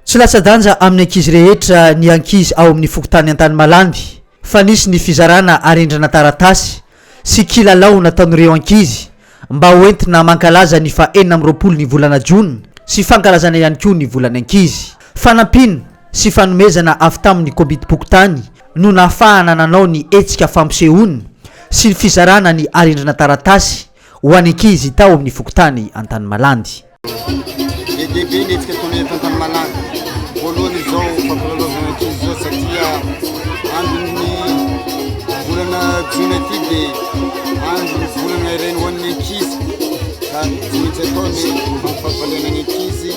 Tsy latsa-danja amin'ny ankizy rehetra ny ankizy ao amin'ny fokontany Antanimalandy fa nisy ny fizarana arendrana taratasy sy kilalao nataon'ireo ankizy mba ho entina mankalaza ny faha enina amby roapolo ny volana jona sy fankalazana ihany koa ny volan'ny ankizy. Fanampiana sy fanomezana avy tamin'ny Komitim-pokontany no nahafahana nanao ny hetsika fampisehoana sy ny fizarana ny arendrana taratasy. Ho an'ny ankizy tao amin'ny fokontany Antanimalandy. Be dia be ny hetsika ataonay eto Antanimalandy. Voalohany izao fampilalaovana ankizy izao satria andron'ny volana jona ity dia andron'ny volana iray ho an'ny ankizy ka tsy maintsy atao ny mampifalifaly ny ankizy.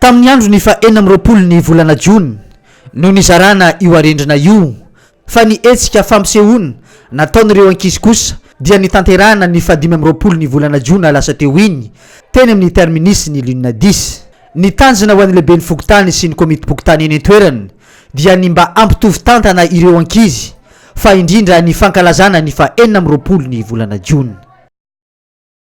Tamin'ny andron'ny faha enina amby roapolo ny volana jona no nizarana io arendrina io fa ny hetsika fampisehoana nataon'ireo ankizy kosa dia nitanterahana ny faha dimy amby roapolo ny volana jona lasa teo iny teny amin'ny terminus-n'ny Lunadis Ny tanjona ho an'ny lehiben'ny fokontany sy ny komitim-pokontany eny an-toerana dia ny mba hampitovy tantana ireo ankizy fa indrindra ny fankalazana ny fahenina amby roapolo ny volana jona.